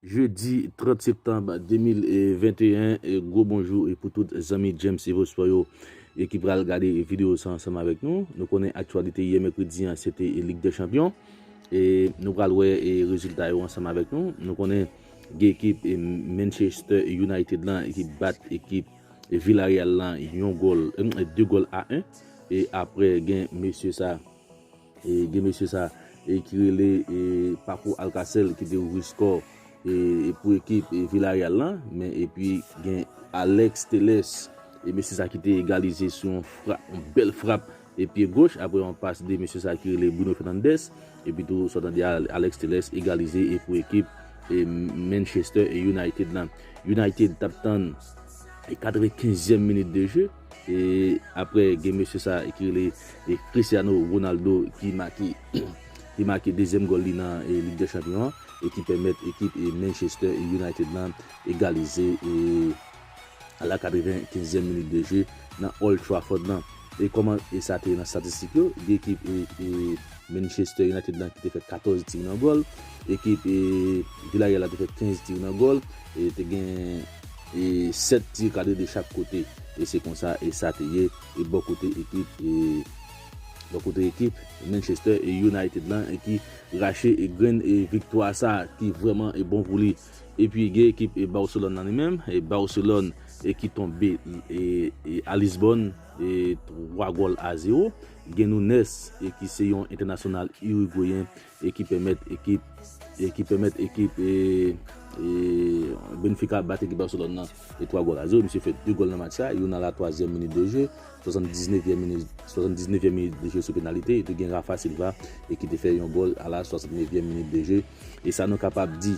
Jedi 30 septanb 2021 gwo bonjou pou tout zanmi James Evo Sport yo ki pral gade video sa ansanm avèk nou. Nou konnen aktyalite yè mèkredi an se te lig dè chanpyon e nou pral wè rezilta yo ansanm avèk nou. Nou konnen gen ekip Manchester United lan ki bat ekip Villarreal lan yon gòl 2 gòl a 1 e aprè gen mesye sa. Gen mesye sa ki rele Paco Alcacer ki te ouvri skò pou ekip Villarreal lan men epi gen Alex Telles e mesye sa ki te egalize sou yon frap, yon bèl frap e pye goch apre yon pas de mesye sa ki rele Bruno Fernandes epi tou sa w tande a Alex Telles egalize e pou ekip Manchester United lan. United t ap tann 95 èm minit de je. E aprè gen mesye sa ki rele Cristiano Ronaldo ki make ki make dezyèm gòl li nan Lig dè Chanpyon an e ki pèmèt ekip Manchester United lan egalize a la 95 zièm minit de jeu nan Old Trafford lan. E kòman sa te ye nan statistik yo, gen ekip Manchester United lan ki te fè 14 tir nan gòl, ekip Villarreal la te fè 15 tir nan gòl e te gen. E 7 tir kadre de chak kote. E se konsa e sa te ye e bò kote ekip e bò kote ekip Manchester e United lan e ki rache e grenn e viktwa sa ki vrèman e bon pou li. E pi gen ekip e Barcelone lan li menm e Barcelone e ki tonbe e e a Lisbonne e 3 gòl a 0. Gen Nunes e ki se yon entènasyonal Uruguayen e ki pèmèt ekip e ki pèmèt ekip e e Benfica bat ekip Barcelone nan e 3 gòl a 0 misye fè 2 gòl nan match sa youn nan la twazyèm minit de jeu 79 yèm minit 79 yèm minit de jeu sou penalite epi gen Rafa Silva e ki te fè yon gòl a la 69 yèm minit de jeu e sa nou kapab di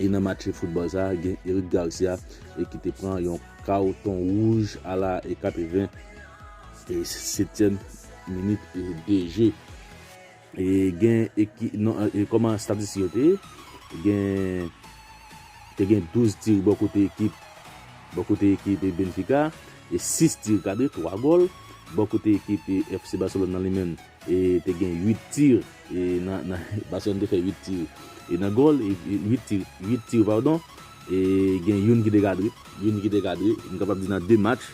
e nan match foutbòl sa gen Eric Garcia e ki te pran yon kawton wouj a la e 80 e setyèm minit de jeu. Gen ekip non kòman statistik yo te ye gen te gen 12 tir bò kote ekip bò kote ekip Benfica e 6 tir kadre 3 gòl bò kote ekip FC Barcelone nan li menm e te gen 8 tir e nan nan Barcelone te fè 8 tir e nan gòl 8 tir 8 tir padon e gen youn ki te kadre youn ki te kadre nou kapab di nan 2 match.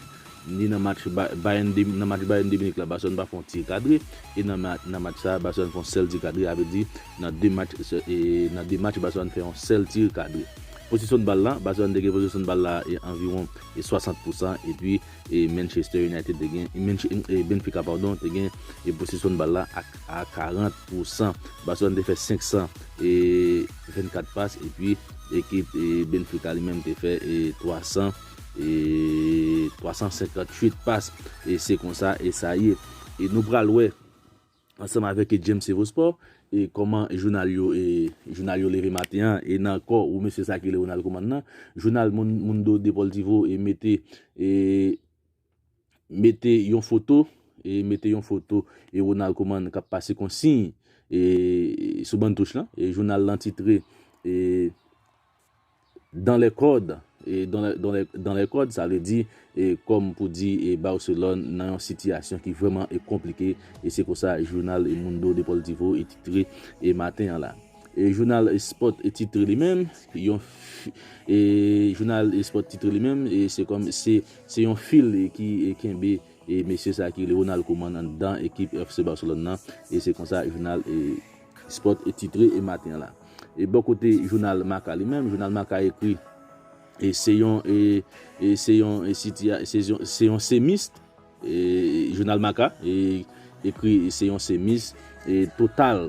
Ni nan match Bayern de nan match Bayern de Munich la Barcelone pa fè yon tir kadre e nan nan match sa Barcelone fè yon sèl tir kadre sa vle di nan 2 match sè e nan 2 match Barcelone fè yon sèl tir kadre. Posesyon bal la Barcelone te gen posesyon bal la e anviwon e 60 pou san epi e Manchester United te gen Manche e Benfica padon te gen e posesyon bal la ak a 40 pou san. Barcelone te fè 500 e 24 pas epi ekip e Benfica li menm te fè e 300. E 358 pas e se konsa e sa ye. E nou pral wè ansanm avèk e James Evo Sport e kòman jounal yo e jounal yo leve maten an e nan kò ou mesye sa ki rele Ronald Koeman nan jounal Mundo Deportivo e mete e mete yon foto e mete yon foto e Ronald Koeman k ap pase konsiy e sou ban touch lan e jounal lan titre e dans les codes e dans les codes sa vle di e kòm pou di e Barcelone nan yon sitiyasyon ki vrèman e konplike e se konsa jounal e Mundo Deportivo e titre e maten an la e jounal Sport e titre li menm yon fi e jounal Sport titre li menm e se kòm se. Se yon fil ki kenbe mesye sa ki rele Ronald Koeman anndan ekip FC Barcelone nan e se konsa jounal Sport titre maten an la. Bò kote jounal Marca li menm, jounal Marca ekri se yon se yon se yon semis jounal Marca ekri se yon semis total.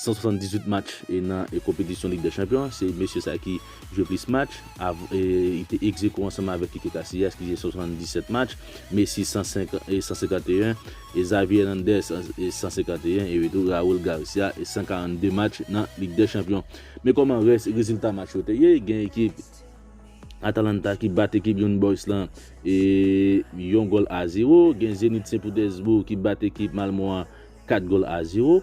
178 match nan konpetisyon Lig dè Chanpyon an, se mesye sa ki jwe plis match, li te egzewo ansanm avèk Kike Kasiyas ki jwe 77 match, Messi 151, Xavi Hernandez 151 epi tou Raul Garcia 142 match nan Lig dè Chanpyon. Men kòman rès rezilta match yo te ye, gen ekip Atalanta ki bat ekip Young Boys lan yon gòl a zewo, gen Zenit Sen Petèsboug ki bat ekip Malmo a 4 gòl a zewo.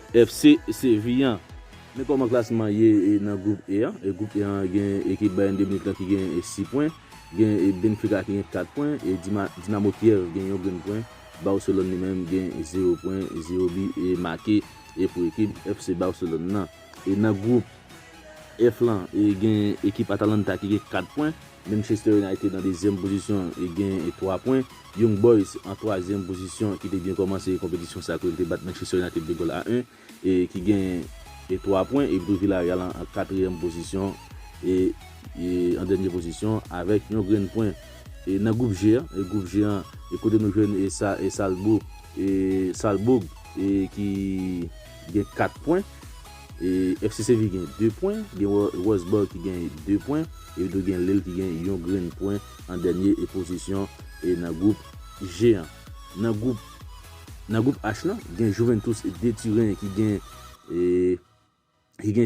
FC Sevillan. Men kòman klasman ye nan gwoup E an. Gwoup E an gen ekip Bayern de Munich lan ki gen 6 pwen, gen Benfica ki gen 4 pwen, e Dinamo Kyev gen yon grenn pwen, Barcelone li menm gen 0 pwen, 0 bi make pou ekip FC Barcelone lan. Nan gwoup F lan gen ekip Atalanta ki gen 4 pwen. Manchester United nan dezyèm pozisyon e gen 3 pwen. Young Boys an twazyèm pozisyon ki te byen kòmanse konpetisyon sa kote l te bat Manchester United 2 gòl a 1 e ki gen 3 pwen epi tou Villarreal an katriyèm pozisyon e an dènye pozisyon avèk yon grenn pwen e nan gwoup G an e gwoup G an e kote nou jwenn e sa e Salzbourg e Salzbourg e ki gen 4 pwen. FCCV gen 2 pwen, gen Roseboro ki gen 2 pwen, epi tou gen Lille ki gen yon grenn pwen an dènye pozisyon nan gwoup G an. Nan gwoup H lan, gen Juventus de Turen ki gen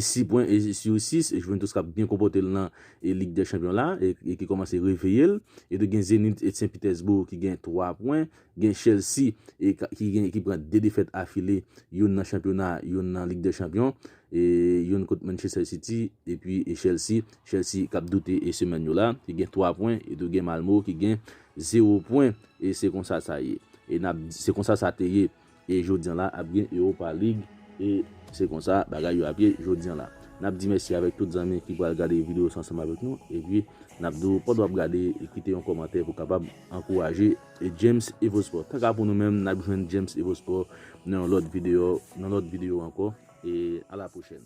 6 pwen sou 6, Juventus k ap byen konpòte l nan Lig dè Chanpyon la e ki kòmanse reveye l. Epi tou gen Zenit Sen Pitèsboug ki gen 3 pwen, Gen Chelsea ki gen ki pran 2 defèt afile, youn nan chanpyona, youn nan Lig dè Chanpyon, youn kont Manchester City epi Chelsea, Chelsea kap doute semèn yo la ki gen 3 pwen etou gen Malmo ki gen 0 pwen e se konsa sa ye e nap se konsa sa te ye. E jodi an la ap gen Europa League e se konsa bagay yo ap ye jodi an la. Nap di mèsi avèk tout zanmi ki pral gade video sa ansanm avèk nou epi nap di w pandan wap gade kite yon kòmantè pou kapab ankouraje James Evosport. Tanka pou nou menm nap jwenn James Evosport nan yon lòt video nan lòt video ankò e a la pwochèn.